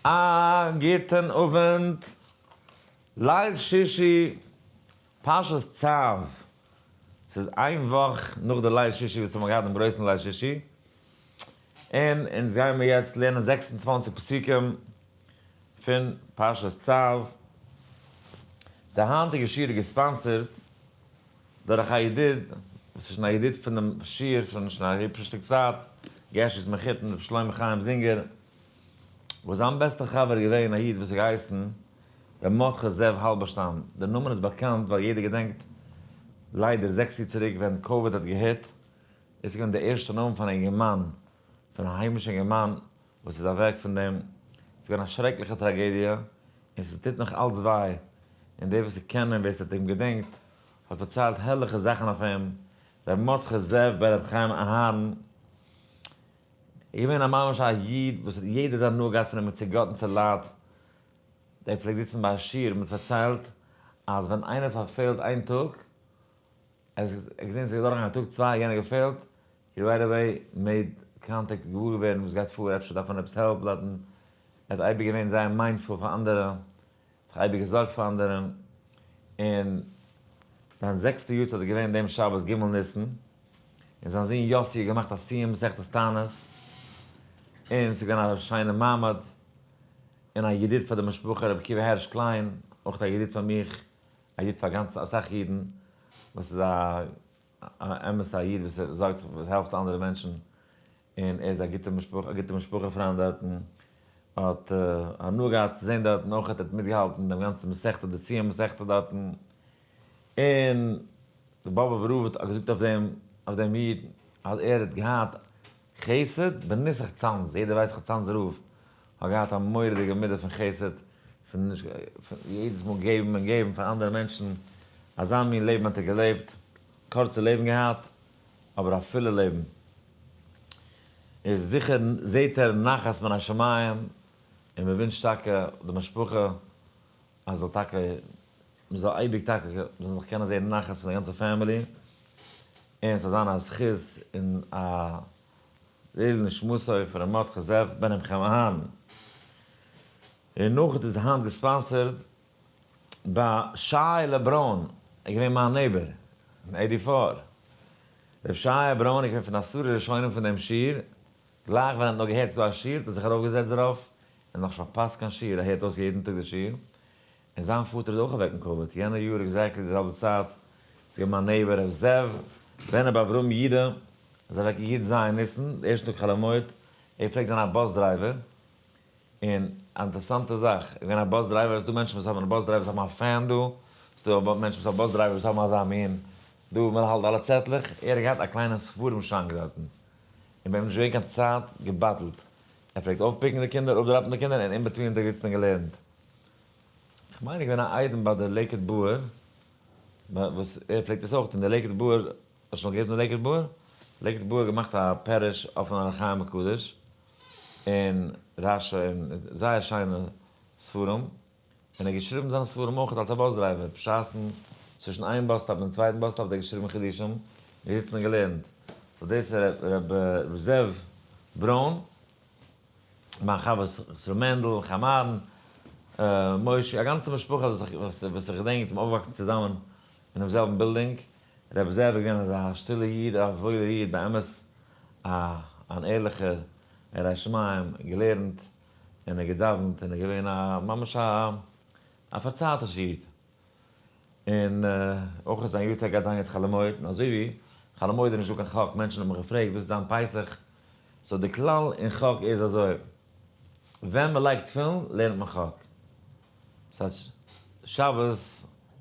א גוטען אווענט. ליל שישי פרשת צו, ס'איז איין וואך נאך די ליל שישי וואס האמער געהאט דעם גרויסן ליל שישי, און אונז גיימער יעצט לערנען זעקס און צוואַנציק פסוקים פון פרשת צו. די היינטיגע שיעור איז געספאנסערט דורך א ידיד, וואס איז שוין א ידיד פונעם שיעור שוין א היבשע שטיק צייט, געשעס מחותן ר' שלמה חיים זינגער וואס זיין בעסטער חבר איז געווען א איד וואס האט געהייסן ר' מרדכי זאב האלבערשטאם, דער נאמען איז באקאנט ווייל יעדער געדענקט ליידער זעקס יאר צוריק ווען קאוויד האט געהיט, דאס איז געווען דער ערשטער נאמען פון א אינגערמאן, פון א היימישע אינגערמאן וואס איז אוועק פון דעם, ס'איז געווען א שרעקליכע טראגעדיע און ס'טוט נאך אלץ וויי, און די וואס קענען און ווער ס'האט אים געדענקט האט פארציילט הערליכע זאכן אויף אים, ר' מרדכי זאב בן ר' חיים אהרן. איז געווען א ממש א איד וואס האט יעדע האט הנאה געהאט פון אים און צוגאטן צו לייט, דער פלעגט זיצן ביי א שיעור און פארציילט אז ווען איינער פארפעלט איין טאג, ער האט געזען ס'איז געדארן א טאג צוויי יענער געפעלט, הי רייט עוועי מעיד קאנטעקט געוואר געווערן וואס גייט פאר אפשר דארף מען עפעס העלפ דארטן, ער האט אייביג געווען זייער מיינדפול פאר אנדערע, זיך אייביג געזארגט פאר אנדערען, און זיין זעקסטע יארצייט איז געווען דעם שבת ג' ניסן, און זיין זון יאסי האט געמאכט א סיום מסכת תענית, און ס'איז געווען א שיינע מעמד, און א ידיד פאר די משפחה ר' עקיבא הערש קליין, אויך א ידיד פאר מיך, א ידיד פאר גאנץ אסאך אידן, וואס איז א אמת'ע איד וואס זארגט זיך וואס העלפט אנדערע מענטשן, און ער איז א גוטע משפחה, א גוטע משפחה פריינד דארטן, האט הנאה געהאט צו זען דארטן, אויך האט ער מיטגעהאלטן דעם גאנצן מסכתא, די סיום מסכתא דארטן, און די באבע וראבד האט געזאגט אויף דעם איד אז ער האט געהאט חסד בנוסח צאנז, יעדער ווייסט איך צאנז רב האט געהאט א מורא'דיגע מידה פון חסד, פון יעדעס מאל געבן און געבן פאר אנדערע מענטשן, אזא מין לעבן האט ער געלעבט, קורצע לעבן געהאט, אבער א פילע לעבן איז זיכער זעהט ער נחת מן השמים און מען ווינטש טאקע די משפחה אז זאל טאקע מען זאל אייביג טאקע זאל מען זיך קענען זעהן נחת פון די גאנצע פעמילי און ס'זאל זיין א זכות און א לעיל נשמתו פון ר' מרדכי זאב בן ר' חמה'ן ר' נחת איז היינט געספאנסערד ביי שי לעבראן איז געווען מיין נעיבער אין עידי פאר. ר' שי לעבראן איז געווען פון די עשרה ראשונים פון דעם שיעור, גלייך ווען ער האט נאר געהערט ס'דא א שיעור האט ער זיך ארויפגעזעצט דערויף, ער האט נאך נישט פארפאסט קיין שיעור, ער הערט אויס יעדן טאג די שיעור, און זיין פאטער איז אויך אוועק אין קאוויד יענע יאר עקזעקטלי די זעלבע צייט, ס'איז געווען מיין נעיבער ר' זאב ווענער ביי אברהם ידע איז אוועק י ז ניסן די ערשטע טאג חאלעמויד, ער פלעגט זיין א באס דרייווער, און א אינטערעסאנטע זאך, איז געווען א באס דרייווער, עס איז דא מענטשן וואס האבן, באס דרייווערס האבן א פען דא, עס איז דא מענטשן וואס האבן, באס דרייווערס האבן אזא מין, דא ווי מען האלט אלע צעטלעך, ער האט געהאט א קליינע ספרים שאנק דארטן, און ביי אים איז נישט געווען קיין צייט געבאטלט, ער פלעגט אויפפיקן די קינדער, אפדראפן די קינדער, און אין בעטווין האט ער געזיצן און געלערנט. איך מיין ער איז געווען א איידעם ביי די לעיקוואד באוער, וואס ער פלעגט עס אויך טון, די לעיקוואד באוער, האסט שוין מאל געהערט פון די לעיקוואד באוער? לעיקוואד באוער האט געמאכט א פעריש אויפן אור החיים הקדוש. און רשי און זייער שיינע ספרים, און ער האט געשריבן זיינע ספרים אויך אלס א באס דרייווער, בשעת'ן צווישן איין באס סטאפ און צווייטן באס סטאפ האט ער געשריבן חידושים, געזיצן און געלערנט, סאו דאס איז ר' זאב ברוין, מיין חבר ר' מענדל, ר' חיים אהרן, ר' משה, א גאנצע משפחה וואס איך געדענק, מ'איז אויפגעוואקסן צוזאמען, אינעם זעלבן בילדינג, רבי זאב איז געווען אזא שטילע איד, א וואוילע איד, באמת א אן ערליכער, ירא שמים, געלערנט, און ער האט געדאווענט, און ער איז געווען א ממש א א פארצייטישע איד, און אויך האט זיין יו ט געהאט זיין יו ט חאלעמויד, און אזוי ווי חאלעמויד איז נישט דא קיין חק, מענטשן האבן געפרעגט וואס איז זיין פסח, סאו די כלל אין חק איז אזוי, ווען מען לייגט תפילין לערנט מען חק. ס'הייסט שבת,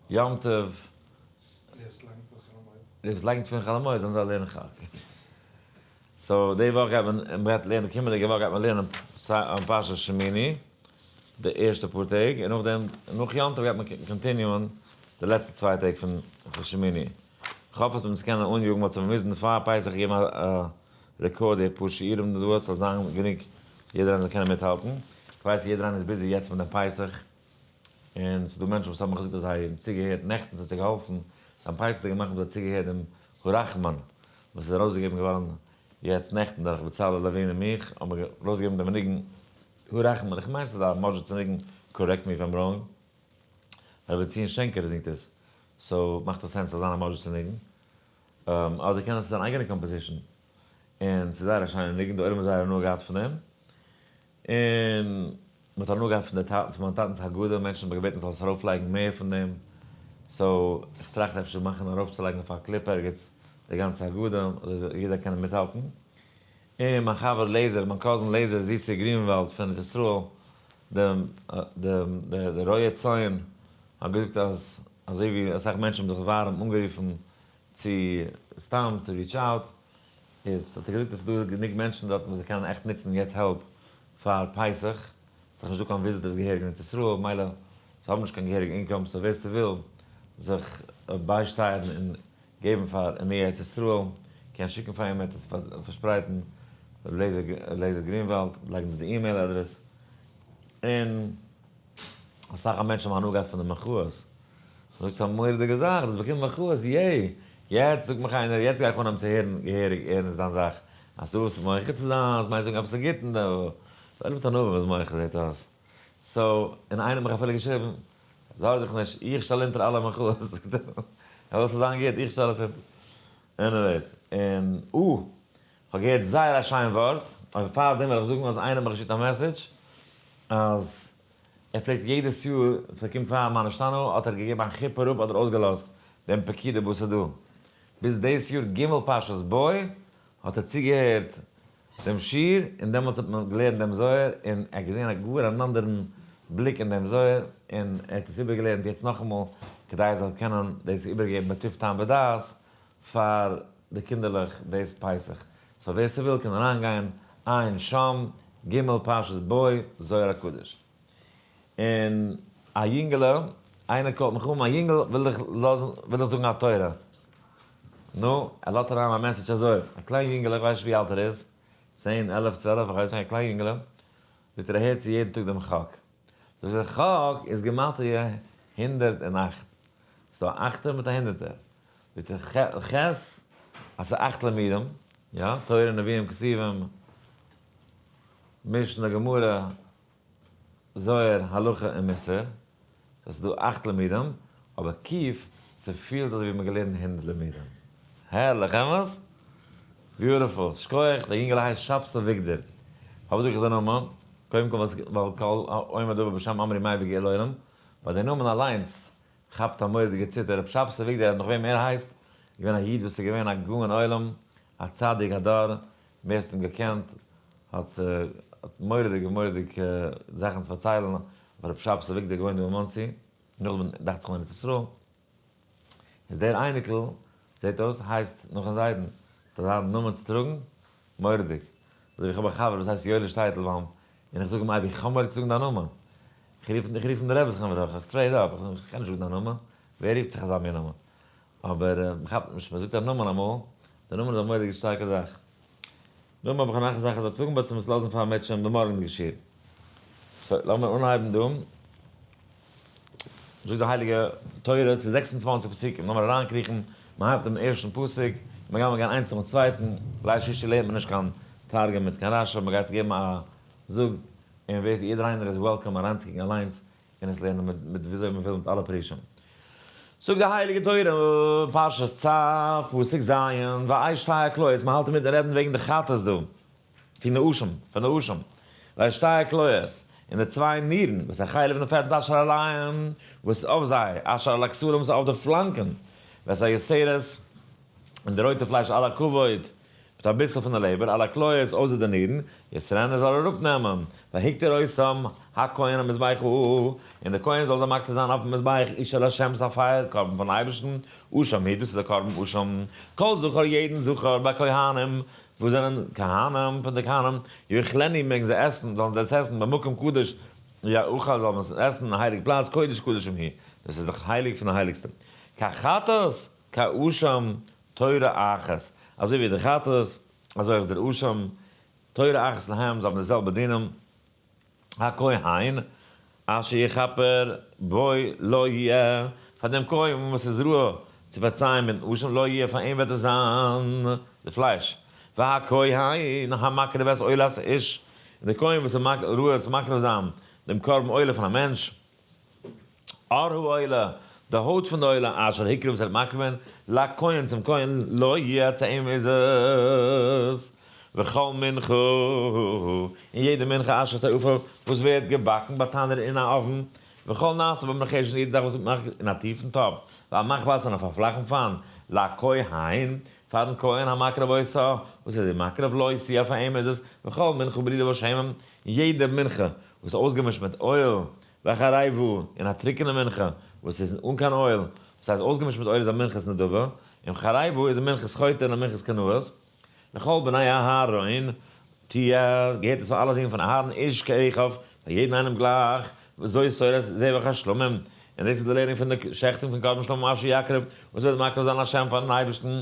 יום טוב. ליכס לייקנט פון חול המועד. ליכס לייקנט פון חול המועד, זאלן זיי לערנען חק. סאו די וואך גייט מען, מען גייט לערנען, קומענדיגע וואך גייט מען לערנען פרשת שמיני, די ערשטע פאר טעג, און נאכדעם, נאך יום טוב גייט מען קאנטיניוען די לעצטע צוויי טעג פון שמיני. כ'האף אז מ'וועט עס קענען אנגעגבן האט זיך באוויזן פאר פסח געבן א רעקארד די פאר שיעורים דא עס זאל זיין גענוג יעדער איינער זאל קענען מיטהאלטן, כ'ווייס יעדער איינער איז ביזי יעצט מיט דעם פסח, און ס'דא מענטשן וואס האבן געזאגט אז זיי האבן צוגעהערט נעכטן ס'האט זיי געהאלפן, דעם פסח'דיגע מאכן האבן זיי צוגעהערט דעם הרחמן וואס איז ארויסגעגעבן געווארן יעצט נעכטן דורך בצלאל לעווין און מיך האבן מיר ארויסגעגעבן דעם ניגון הרחמן, איך מיין ס'איז א מאדזשיצער ניגון, קארעקט מי איף איים ראנג, רביצין שענקער זינגט עס, סאו מאכט עס סענס צו זיין א מז'ט צו ניגון. אדער קען עס זיין אן אייגענע קאמפאזישן. און ס'איז זייער א שיינע ניגון, די עולם האט זייער הנאה געהאט פון אים. און מ'האט הנאה געהאט פון די פון מיין טאטנ'ס הגדה, מענטשן האבן געבעטן זאל עס ארויפלייגן מער פון דעם. סאו איך טראכט אפשר מאכן ארויפצולייגן אויף א קליפ ערגעץ די גאנצע הגדה, אזוי זאל יעדער קענען מיטהאלטן. און מיין חבר לעזער, מיין קאזין לעזער זיסער גרינוואלד פון ארץ ישראל, דער רויע ציון, האט געזאגט אז אזוי ווי אסאך מענטשן האבן זיך ווארעם אנגערופן צו סתם טו ריטש אוט, איז האט ער געזאגט אז ס'איז דא גענוג מענטשן דארט וואס זיי קענען עכט נוצן יעצט העלפ פאר פסח. ס'איז דאך נישט דא קיין וויזיטערס געהעריג אין ארץ ישראל, ממילא זיי האבן נישט קיין געהעריגע אינקאם, סאו ווער ס'וויל זיך ביישטייערן און געבן פאר עמי ארץ ישראל, קען שיקן פאר אים, ער וועט עס פארשפרייטן, ר' אליעזר גרינוואלד, לייגן דא די אימעיל אדרעס, און אסאך מענטשן האבן הנאה געהאט פון די מחאות, זאגסט ס'איז א מורא'דיגע זאך, דאס באקומט מחאות, יעי! יעצט זאגט מיך איינער, יעצט גיי איך אנהייבן צו הערן געהעריג ערנסט דיין זאך, אז דו ווילסט מוחה צו זיין, אז מ'הייסט זאגן עפעס א גוטן, זייער מיט ענווה וואס מח זעהט אויס סאו און איינער האט מיך אפילו געשריבן זארג דיך נישט איך שטעל אונטער אלע מחאות זאגט ער ער זאל זיין גוט איך שטעל עס אונטער עניוועיס און אה כ'האב געהערט זייער א שיין ווארט אבער פאר דעם וויל איך זאגן אז איינער האט מיך געשיקט א מעסעדזש אז ער פלעגט יעדעס יאר ווען ס'קומט פאר מה נשתנה האט ער געגעבן א כיפור אראפ אדער אויסגעלאזט דעם פקידה באסעדא ביז דאס יאר ג' פרשת בוא האט ער צוגעהערט דעם שיעור, און דעמאלטס האט מען געלערנט דעם זוהר, און ער האט געזען א גאר אן אנדערן בליק אין דעם זוהר, און ער האט עס איבערגעלערנט יעצט נאכאמאל, כדי ער זאל קענען דאס איבערגעבן בטוב טעם ודעת פאר די קינדערלעך דאס פסח. סאו ווער ס'וויל קען אריינגיין, עיין שם, ג' פרשת בוא, זוהר הקדוש. און א יונגעלע, איינער קאלט מיך אן, מיין יונגעל וויל דיך לאזן, וויל דיך זאגן א תורה. נו, ער לאדט אריין א מעסעדזש אזוי, א קליין יונגעלע, איך ווייס נישט ווי אלט ער איז, צען, עלף, צוועלף, איך ווייס נישט, א קליין יונגעלע, זאגט ער ער הערט צו יעדן טאג דעם חק. זאגט ער, חק איז גימטריא הונדערט און אכט. ס'איז דא א אכטער מיט א הונדערטער. זאגט ער, ח ח, אז ס'איז אכט לימודים, יא, תורה, נביאים, כתובים, משנה, גמרא, זוהר, הלכה און מוסר, סאו ס'איז דא אכט לימודים, אבער ק י ס'פילט אזויווי מ'האט געלערנט הונדערט לימודים. הערליך, אמת? ביוטיפול, שכוח, דער יונגעל הייסט שב ס אביגדור. פארוואס זאג איך די נאמען? קודם כל ווייל כל העומד דבר בשם אמרי מאי וגיע לעולם, ביי די נאמען אליינס כאפט א מורא'דיגע ציטער, ר' שב ס אביגדור האט נאך וועם ער הייסט, איז געווען א איד וואס איז געווען א גאון עולם, א צדיק הדור, ווער ס'האט אים געקענט האט האט מורא'דיגע מורא'דיגע זאכן צו פארציילן אויף הרב שבת אביגדור געוואוינט דא אין מאנסי, נאכדעם דאכט זיך אין ארץ ישראל, איז דער אייניקל זעט אויס הייסט נאכן זיידן, האט ער זיין נאמען צו טראגן? מורא'דיג, אזוי ווי איך האב א חבר וואס הייסט יואליש טייטלבוים, און איך זאג אים אייביג איך האב מורא צו זאגן דיין נאמען, איך רוף אים די רעבעס חברה, סטרעיט אפ, איך קען נישט זאגן דיין נאמען, ווער רופט זיך אזא מין נאמען, אבער מ'כאפט נישט, מ'זאגט א נאמען אמאל, די נאמען איז א מורא'דיגע שטארקע זאך. נאכדעם האב איך נאך א זאך איך זאל זאגן בעת צו'מעס לאזן פאר מיט שוין באמארגנט געשיר. סאו לאמיר אנהייבן דא. זאגט די הייליגע תורה, ס'איז זעקס און צוואַנציק פסוקים, לאמיר אריינקריכן, מ'הייבט דעם ערשטן פסוק, מ'גייט מיר גיין איינס נאכן צווייטן, ליל שישי לערנט מען נישט קיין תרגום מיט קיין רשב א, מ'גייט געבן א זאג, און ווער ס'איז יעדער איינער איז וועלקאם אריינצוקוקן אליינס און עס לערנען מיט מיט וויאזוי מ'וויל מיט אלע פרטים. זאגט די הייליגע תורה, פרשת צא, פסוק ז', וישתהה הכליות, מ'האלט אינמיטן רעדן וועגן די חטאת דא, פון נאשם, פון נאשם, וישתהה הכליות, און די צוויי נירן, וואס איז א חלב און פעטס אשר על העין, וואס איז אויף זיי, אשר על הכסלים, וואס איז אויף די פלאנקען, ואת היסערות, און די רויטע פלייש על הכבוד, מיט א ביסל פון די לעבער, אלע כליות אויסער די נירן, יעצט רען ער זאל אראפ נעמען, והקטר אויסם הכהן על מזבח ה, און דער כהן זאל זיי מקטיר זיין אויפן מזבח איש אל השם, ס'איז א פייער קרבן פארן אייבערשטן, אשם ה', דאס איז דער קרבן אשם, כל זכר יעדן זכר, ביי כהנים, וואס זענען כהנים, פון די כהנים, יאכלני מעגן זיי עסן, זאלן זיי עס עסן, במקום קדוש יאכל, זאל מען עס עסן אין א הייליג פלאץ, קודש קדשים היא, דאס איז דאך הייליג פון די הייליגסטע, כחטאת, כאשם תורה אחת, אזוי ווי די כתות, אזוי אויך דער אשם תורה אחת להם, זיי האבן די זעלבע דינים, הכהן אשר יכפר בוי לא יהיה, פאר דעם כהן וואס איז ראוי צו פארצייען מיטן אשם, לא יהיה, פאר אים וועט עס זיין די פלייש, והכהן המקריב את עולת האיש, און דער כהן וואס איז ראוי צו מקריב זיין דעם קרבן עולה פון א מענטש, אור העולה, די הויט פון די עולה אשר הקריב וואס ער האט מקריב געווען, לכהן צום כהן, לא יהיה צו אים איז עס, וכל מנחה, און יעדע מנחה אשר תעופה וואס ווערט געבאקן ביי תנור אין א אויוון, וכל נעשה במחשן יעדע זאך וואס ווערט געמאכט אין א טיפן טאפ, ועל מחבת און אויף א פלאכן פאן, לכהן, פארן כהן המקריב עושה, וואס ער איז אים מקריב, לא ישיא אויף אים איז עס, וכל מנחה ברידה בשמים, און יעדע מנחה וואס איז אויסגעמישט מיט אויל, וועלכע א ריי וואו, און א טרוקענע מנחה וואס איז אן קיין אויל, וואס הייסט אויסגעמישט מיט אויל איז א מנחת נדבה, און וועלכע א ריי וואו איז א מנחת חוטא און א מנחת קנאות, לכל בני אהרן, ט י, געהערט עס פאר אלע זון פון אהרן איש כאחד, פאר יעדן איינעם גלייך, וזו סורת זבח השלמים, און דאס איז די לערנונג פון די שחטים פון קרבן שלמים אשר יקריב, וואס וועט מקריב זיין לה' פארן אייבערשטן,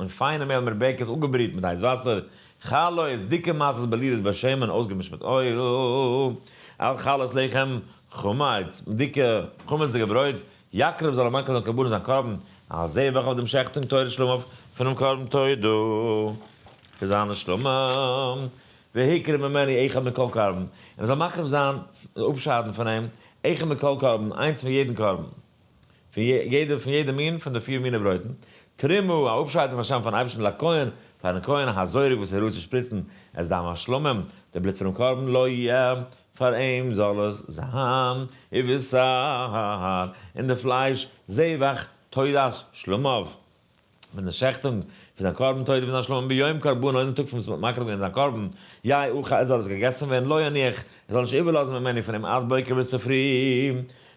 און פיינע מעהל מיט בעקעס אפגעבריהט מיט הייס וואסער, חלות איז דיקע מצות בלילות ביי שמן אויסגעמישט מיט אויל, על חלות לחם חמץ, דיקע חמצ'דיגע ברויט, יקריב זאל ער מקריב זיין קרבנות זיין קרבן, א זבח אויף דעם שעכטונג תורת שלמה פונעם קרבן תודה פאר זיין נשמה, והקריב ממני אחד מכל קרבן, און ער זאל מקריב זיין, אפשיידן פון אים, אחד מכל קרבן, איינס פון יעדן קרבן. פון יעדע פון יעדע מין פון די פיר מיני ברויטן, תרומה, א אפשייד פון השם פארן אייבערשטן לקהל, פארן כהן הזורק וואס ער רורט צו שפריצן את דם השלמים, די בלוט פונעם קרבן לא יהיה, פאר אים זאל עס זיין, ובשר, און די פלייש, זבח, תודת שלמיו, פון די שעכטונג פון זיין קרבן תודה ונאך שלום ביום קרבנו אינעם טאג פון וואס מען האט מקריב געווען זיין קרבן, יהא אוכל עס זאל עס געגעסן ווערן לא יניח ער זאל נישט איבערלאזן ממני פון אים עד בוקר ביז צופרי,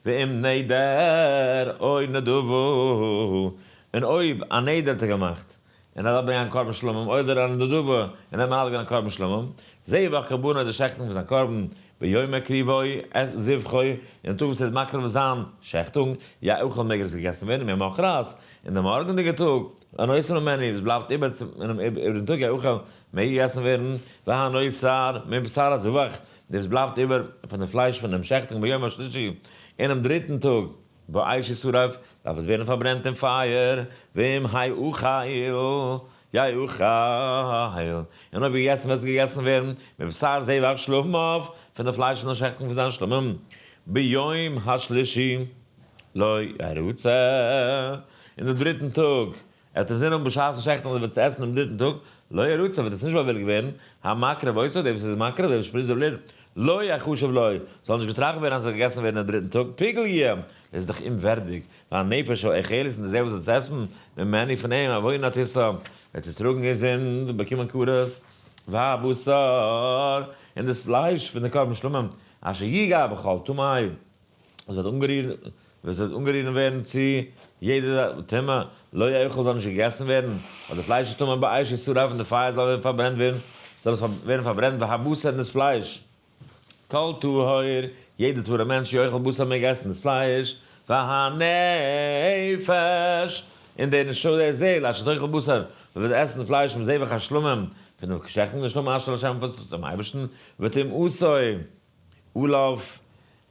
ואם נדר אוי נדבו און אויב א נדר האט ער געמאכט און ער זאל ברענגען א קרבן שלמים אוי נדר אוי נדבו און ער האט מעלה געווען א קרבן שלמים, זע וואך קרבנו די שעכטונג פון זיין קרבן ביום מקריבו את זבחו אינעם טאג וואס ער איז מקריב זיין שעכטונג, יהא אוכל מעג ער עס געגעסן ווערן ממחרת אין די מארגענדיגע טאג, אן אויסערן מעניו וואס בלייבט איבער צו אינעם איבריגן טאג היכל מעג געגעסן ווערן, והא נוי שר מבשר הזבח, דאס וואס בלייבט איבער פון די פלייש פונעם שעכטונג ביום השלישי, אינעם דריטן טאג, באש ישרף, דארף עס ווערן פארברענט אין פייער, ואם האי אוכל, יאי אוכל, און אויב געגעסן וועט עס געגעסן ווערן, מבשר זבח שלמיו, פון די פלייש פון דעם שעכטונג פון זיין שלמים, ביום השלישי. לא ירוצה, און דעם דריטן טאג, ער האט אינזין האבן בשעת השחט און ער וועט עס עסן דעם דריטן טאג, לא ירוצה, וועט עס נישט באווילגט ווערן, המקריב עושה, דער וואס איז מקריב, דער וואס שפריצט די בלוט, לא יחשב לו, זאל נישט געטראכט ווערן אז עס זאל געגעסן ווערן דעם דריטן טאג, פגע י, עס איז דאך אומווערדיג, והנפש האוכלת, און די זעל וואס וועט עס עסן, ממני, פון אים, עוונה תישא, וועט זי טראגן איר זינד, און באקומען כרת, והבשר, און דאס פלייש פון די קרבן שלמים, אשר יגע בכל טמאי, עס וועט אנגערירן, עס וועט אנגערירן ווערן צו יעדע טומאה, לא יאכל זאל נישט געגעסן ווערן, אויף די פלייש איז טמא באש איסור אויף אין די פייער זאל ווערן פארברענט ווערן, זאל עס ווערן פארברענט והבשר און דאס פלייש, כל טהור, יעדע טהור'ע מענטש יאכל בשר מעג עסן דאס פלייש, והנפש, און די נשמה די זעהל אשר תאכל בשר, וואס וועט עסן פלייש מזבח השלמים, פון די כשר'טע נשמה אשר לשם פאר'ס צום אייבערשטן, ותמאסו. אליו,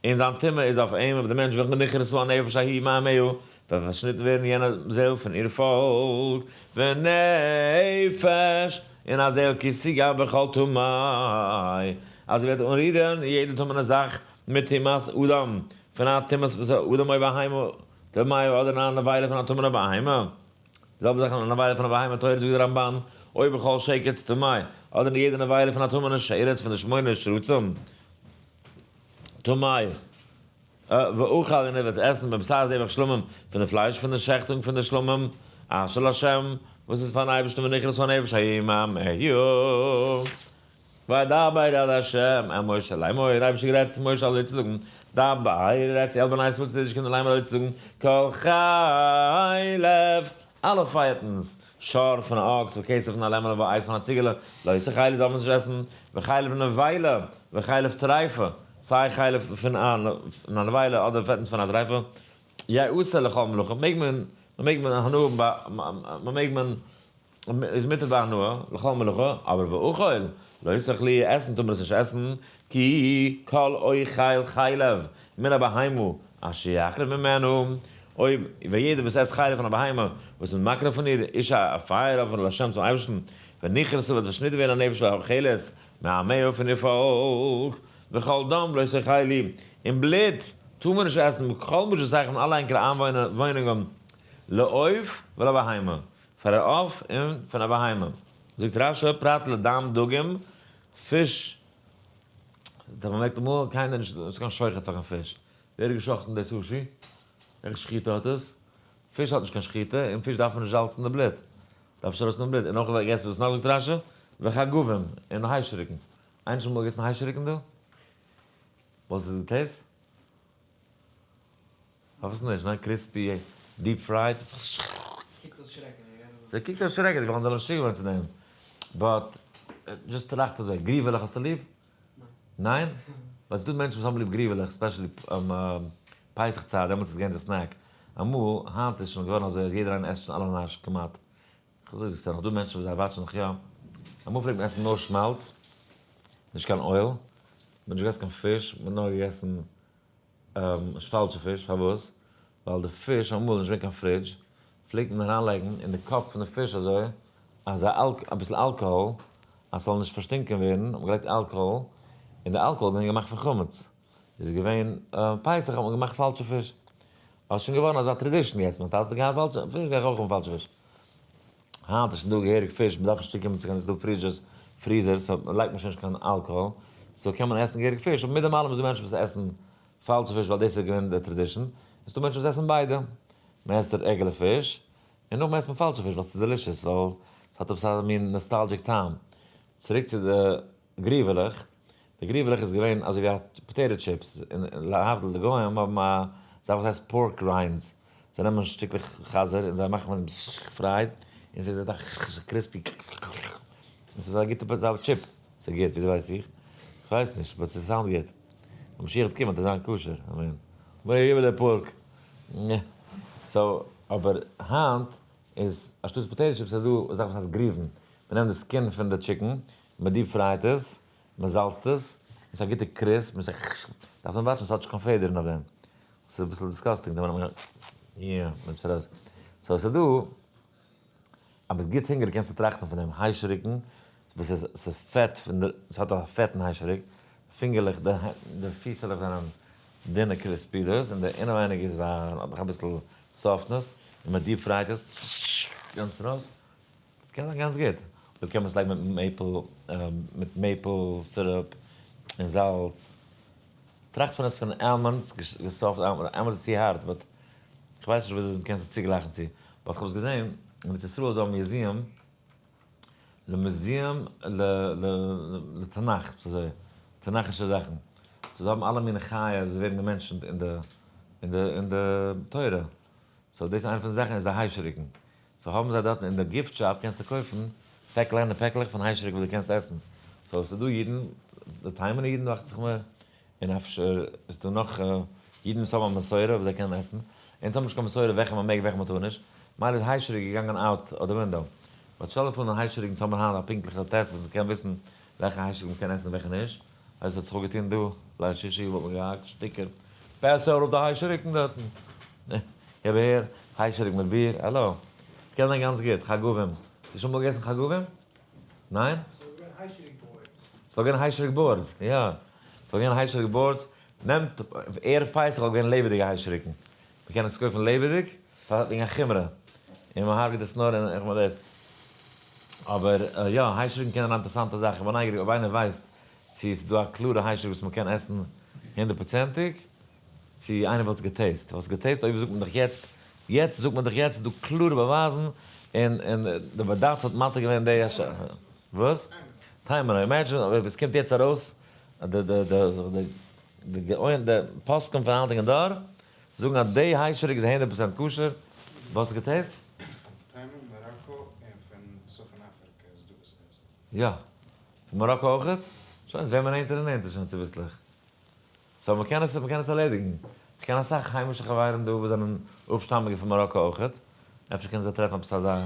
און זיין טומאה איז אויף אים, אויף דעם מענטש וועלכן נכרסו הנפש ההיא מעמהו, וועט פארשניטן ווערן יענע זעל פון איר פאלק, ונפש, און א זעל כי סגר בכל טמאי, אז ער וועט אנרירען יעדע טמא'נע זאך מיט טומאת אדם, פון א טומאת בשר אדם אוי בהמה, די מייער אדער אן עבירה פון א טמא'נע בהמה. די זעלבע זאך אין א נבילה פון א בהמה טהורה זאגט די רמבן, אוי בכל שקץ טמאי, אדער אין יעדע נבילה פון א טמא'נע שרץ פון די שמונה שרצים טמאי, ואוכל און ער וועט עסן מבשר זבח שלמים, פון די פלייש פון די שעכטונג פון די שלמים, אשל השם, וואס איז פאר'ן אייבערשטן ונחרץ הנפש הימים היו. וידבר אל ה' אל משה לאמור, אייבערשטער גערעדט צו משה אזוי צו זאגן, דבר, רעד צו אלע בני ישראל צו די אידישע קינדער לאמור אזוי צו זאגן, כל חלב, אלע פייעטנס, שאר פון א אקס וכסף פון א לעמעלע ואייז פון א ציגעלע, לויסע חלב דארף מען נישט עסן, וחלב נבילה, וחלב טריפה, סיי חלב פון א נבילה אדער פעטנס פון א טריפה, יעשה לכל מלאכה, מעג מען, מען מעג מען הנאה האבן ביי, מען מעג מען. איז מותר ביי הנאה, לכל מלאכה, אבער ואכול, לא יצטרך לי, עסן טאר מען עס נישט עסן, כי כל אוכל חלב מן הבהמה אשר יקריב ממנו, אויב ווען יעדער וואס עסט חלב פון א בהמה וואס מען מקריב פון איר, איש א פייער אפער אל השם צום אייבערשטן, ונכרסו וועט פארשניטן ווערן א נפש האכלת מעמהו פון איר פאלק, וכל דם לא יצטרכי לי, און בלוט טאר מען נישט עסן, כל מה ששייך פון אלע ענקערע איינוואוינונגען, לעוף ולבהמה. פאר א עוף און פון א בהמה. זאגט רש י פרט לדם דגים, פיש, דארף מען מעקן מאלן, קיינער נישט דא, עס איז קיין שוחט פאר קיין פיש, ווער האט געשאכטן די סושי? וועלכע שחיטה האט עס? פיש האט נישט קיין שחיטה, און פיש דארף מען נישט זאלצן די בלוט, דארף נישט ארויסנעמען בלוט, און נאך ווער געסט וואס נאך זאגט רש י? וחגבים, און היישעריקן, איינער שוין אמאל געגעסן היישעריקן דא? וואס איז די טעיסט? פארוואס נישט? ניין קריספי דיעפ פרייד איז קוקט אויס שרעקעדיג. סע קוקט אויס שרעקעדיג ווייל אנדערע זענען משוגע געווארן צו דעם. באט דזשאסט טראכט אזוי, גריוועלעך האסטו ליב? ניין? ווייל ס'דא מענטשן וואס האבן ליב גריוועלעך ספעשעלי פסח צייט דעמאלטס איז געווען די סנעק אמאל, היינט איז שוין געווארן אזוי אז יעדער איינער עסט שוין אלע נאש כמעט. כ'זאג דיר ס'זענען נאך דא מענטשן וואס זיי וואטשן נאך יא. אמאל פלעגט מען עסן נאר שמאלץ, נישט קיין אויל, מ'האט נישט געגעסן קיין פיש, מ'האט נאר געגעסן. נישט פאלשע פיש, פארוואס? ווייל די פיש אמאל נישט געווען קיין פרידזש, פלעגט מען אריין לייגן אין די קאפ פון די פיש אזוי אז א אביסל אלקאהאל אז ס'זאל נישט פארשטינקען ווערן, האט מען געלייגט אלקאהאל, און די אלקאהאל איז געווען געמאכט פון חמץ, איז עס געווען פסח האט מען געמאכט פאלשע פיש, אזוי איז שוין געווארן אזא טרעדישן יעצט, מיין טאטע האט געהאט פאלשע פיש גיי איך אויך האבן פאלשע פיש. היינט איז שוין דא געהעריג פיש, מ'דארף נישט צוקומען צו קיין איז דא פריזשערס, פריזערס, סאו מ'לייגט מער שוין נישט קיין אלקאהאל, סאו קען מען עסן געהעריג פיש, אבער מיט דעם אלעם איז דא מענטשן וואס עסן פאלשע פיש ווייל דאס איז געווען די טראדישן, און ס'דא מענטשן וואס עסן ביידע, מען עסט רעגולער פיש, און נאכדעם עסט מען פאלשע פיש ווייל ס'איז דעלישעס, ווייל ס'האט עפעס א מין נאסטאלדזשיק טעם. צוריק צו די. גריוועלעך, די גריוועלעך איז געווען אזוי ווי א פאטעיטא טשיפס, און להבדיל די גוים האבן א זאך וואס הייסט פארק ריינדס, זיי נעמען שטיקלעך חזיר און זיי מאכן מיט פרייד, און ס'איז אזא קריספי און ס'איז א גוטע זאך טשיפ. ס'איז גוט? וויאזוי ווייס איך? כ'ווייס נישט, באט ס'סאונד גוט. ווען משיח וועט קומען וועט עס זיין כשר, אמן. גריוועלע פארק. סאו, אבער היינט איז אנשטאט פאטעיטא טשיפס איז דא א זאך וואס הייסט גריוון, מ'נעמט די סקין פון די טשיקן, מען דיעפ פרייט עס, מען זאלצט עס, עס א גוטע קריספ, מען דארף נאר וואטשן עס האט נישט קיין פעדערן אויף דעם, עס איז אביסל דיסגאסטינג די ווען מען עס ארויס, סאו עס איז דא, אז ביסט גוט הונגעריג קענסטו טראכטן פון דעם היישעריקן, וואס איז עס איז פעט, עס האט א פעטן היישעריק, די פינגערלעך די פיסעלעך זענען דינע קריספי דאס, און די אינעווייניג איז א האט נאך אביסל סאפטנעס, און מען דיעפ פרייט עס, גאנץ ארויס. עס קען זיין גאנץ גוט, אויב קען מען עס לייגן מיט מעיפל, מיט מעיפל סירופ און זאלץ, טראכט פון עס פון עלמאנדס, געסאפט עלמאנדס, עלמאנדס איז צו הארט, באט כ'ווייס נישט וויאזוי מ'קען עס צוגלייכן צו, באט כ'האב עס געזען, אין ארץ ישראל איז דא א מיוזיעם, ל מוזיעם ל ל לתנך, ס'איז אזוי, תנכ'ישע זאכן, סאו זיי האבן אלע מינע חיות וואס ווערן געמענטשנט אין די אין די אין די תורה, סאו דאס איז איינע פון די זאכן, איז די היישעריקן, סאו האבן זיי דארטן אין די גיפט שאפ קענסטו קויפן פעק קליינע פעקלעך פון היישעריק וואס דו קענסט עסן, סאו ס'איז דא אידן, די תימנ'ע אידן דאכט זיך מיר, און אפשר איז דא נאך אידן וואס האבן א מסורה וואס זיי קענען עסן, אונז האבן נישט קיין מסורה וועלכע מען מעג וועלכע מען טאר נישט, מילא איז היישעריק געגאנגען אוט אוו די ווינדאו, באט שטעל דיך פאר אין היישעריק אונז האבן היינט א פונקטליכע טעסט וואס מ'קען וויסן וועלכע היישעריק מ'קען עסן און וועלכע נישט. הייסט האט זיך אויף געטון דא, ליל שישי וואלט מען געהאקט שטיקער פעסער אויף די היישעריקן דארטן, איך בין הער היישעריק מיט ביר, האלא, עס קען זיין גאנץ גוט, חגבים, האסט דו שוין אמאל געגעסן חגבים? ניין? ס'איז דאך געווען היישעריק באורדס. ס'איז דאך געווען היישעריק באורדס, יא, ס'איז דאך געווען היישעריק באורדס, נעמט, ערב פסח האט געווען לעבעדיגע היישעריקן, מען קען עס קויפן לעבעדיג פאר וועגן א חומרא און מען הרג'ט עס נאר אין איך מיין דאס אבער יא היישערונגען קענען א אינטערסאנטע זאך איך בין נייגעריג אויב איינער ווייסט צו ס'דא א קלארע היישערוג וואס מען קען עסן הונדערט פראצענטיג צו איינער וואלט עס געטעסט וואלסט געטעסט אויב זאגט מען דאך יעצט יעצט זאגט מען דאך יעצט ס'דא קלארע באווייזן און און די בדץ האט מתיר געווען די וואס? טיימער אימעדזשען אויב עס קומט יעצט ארויס די די די. די גאון די פוסקים פון היינטיגן דור זאגן אז די היישעריק איז הונדערט פראצענט כשר, וואס איז געטעסט? טעמים מאראקא און פון צפון אפריקע איז דא וואס טעסטן. יא. פון מאראקא אויכעט? שוין עס ווערט מער נענטער און נענטער שוין צוביסלעך. סאו מ'קען עס מ'קען עס ארלעדיגן. כ'קען אסאך היימישע חברים דא וואס זענען אפשטאמיגע פון מאראקא אויכעט. אפשר קענען זיי טרעפן עפעס אזא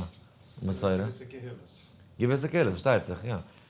מסורה. געוויסע קהילות. געוויסע קהילות פארשטייט זיך יא.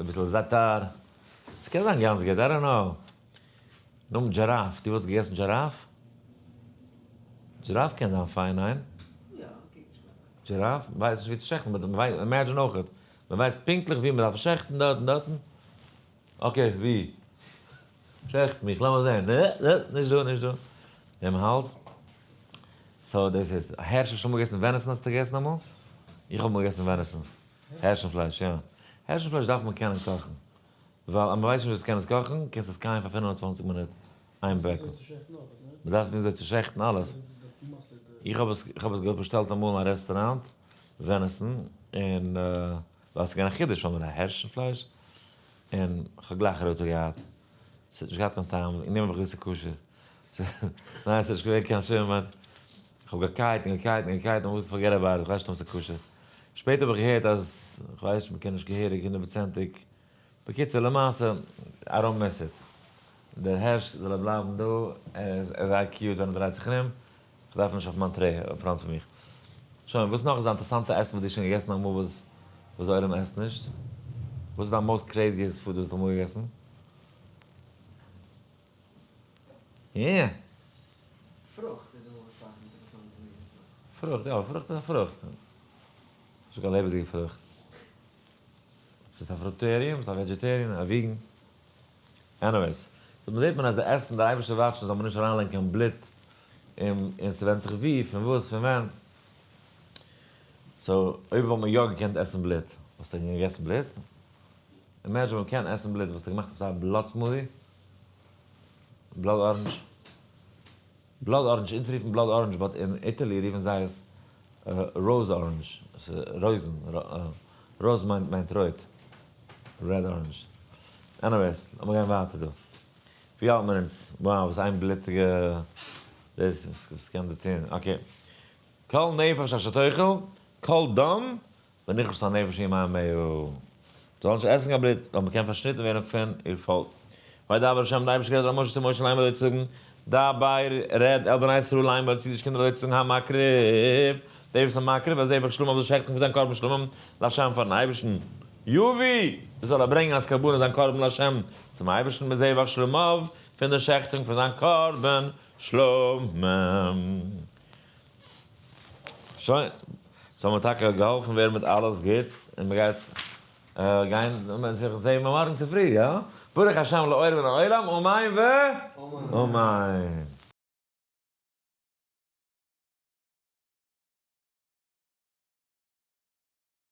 אביסל זאטאר, ס'קען זיין גאנץ גוט, איי דאנט קנאו. נאמען דזשיראף, דו וואלסט געגעסן דזשיראף? דזשיראף קען זיין פיין, ניין? יא, כ'קוק נישט קיין קיין. דזשיראף, ווייסט נישט ווי צו שעכטן, באט מ'ווייסט, אימעדזשין אויכעט, מ'ווייסט פונקטליך ווי מ'דארף שעכטן, דארט און דארטן. אקעי, ווי? שעכט מיך, לאמיר זען. אה, אה, נישט דא, נישט דא. דעם האלז. סאו דאס איז, הערשט האסט שוין אמאל געגעסן וועניסן? האסטו געגעסן אמאל? איך האב אמאל געגעסן וועניסן. הערשן פלייש, יא. הערשן פלייש דארף מען קענען קאכן. ווייל אז מ'ווייסט נישט ווי עס קען עס קאכן, קענסט עס קייען פאר פֿינף און צוואַנציק מינוט, איין ברעקל. מ'דארף וויאזוי צו שעכטן אלעס. איך האב עס, איך האב עס געהאט באשטעלט אמאל אין א רעסטוראנט, ווען עסן, און ווייל ס'איז געווען א חידוש, האבן מיר א הערשן פלייש, און כ'האב גלייך רויטע געהאט. ס'האט נישט געהאט קיין טעם, און נימאלט האב איך געוואוסט ס'איז כשר. ניין ס'נישט געווען קיין שום אמת, כ'האב געקייט און געקייט און געקייט און אמרתי פארגעט אבאוט איט, כ'ווייס נישט אויב ס'איז כשר, שפעטער האב איך געהערט אז, כ'ווייס נישט מ'קען נישט געהעריג הונדערט פראצענטיג, בקיצור למעשה איי דאנט מיס איט, דער הערש זאל ער בלייבן דא, ער איז זייער קיוט ווען ער דרייט זיך ארום, כ'דארף אים נישט אויף מיין טרעי אויף פראנט פון מיך. שוין, וואס נאך איז א אינטערסאנטע עסן וואס דו האסט שוין געגעסן אמאל וואס וואס די עולם עסט נישט? וואס איז דיין מאוסט קרעיזיעסט פוד וואס דו האסט אמאל געגעסן? פרוכט איז דא וואס הייסן אינטערעסאנטע מינע פרוכט. פרוכט, יא, פרוכט איז א פרוכט. נישט קיין לעבעדיגע פרוכט. ביסט א פרוטעריען? ביסט א וועדזשעטעריען? א וויגען? עניוועיס. דא זעט מען אז די עסן, די אייבערשטער ווארט שוין זאל מען נישט אריינלייגן קיין בלוט און און ס'ווענדט זיך וואו, פון וואס, פון ווען. סאו, אויב וואלט מען יא געקענט עסן בלוט, וואלסטו געגעסן בלוט? אימעדזשין מ'קען עסן בלוט, וואלסטו געמאכט עפעס א בלאט סמודי? בלאד ארענדזש, בלאד ארענדזש, אונז רופן בלאד ארענדזש באט אין איטעלי רופן זיי עס ראוז ארענדזש, עס איז רויזן, ראוז מיינט רויט, רעד ארענדזש, עניוועיס לאמיר גיין ווייטער דא, ווי האלט מיר אונז, וואו וואס איין בלוטיגע דאס, וואס קען דער טון, אקעי, כל נפש אשר תאכל, כל דם בין איך וואס א נפש אין מיין מאה א. זאל נישט עסן קיין בלוט, ווייל מ'קען פארשניטן ווערן פון איר פאלק. וידבר ה' און דער אייבערשטער גערעדט אל משה צו משה ליימער אזוי צו זאגן, דבר רעד אל בני ישראל ליימער צו די אידישע קינדער אזוי צו זאגן המקריב, דער וואס איז מקריב א זבח שלמים זאל שעכטן פון זיין קרבן שלמים לה' פארן אייבערשטן, יביא, זאל ער ברענגען אלס קרבנות זיין קרבן לה' צום אייבערשטן מזבח שלמיו פון דער שעכטונג פון זיין קרבן שלמים. שוין, סאו מ'האט טאקע געהאלפן ווערן מיט אלעס גוטס, און מ'גייט גיין זיך זעהן מארגן צופרי, יא? ברוך השם לאור מן העולם, אמן ואמן.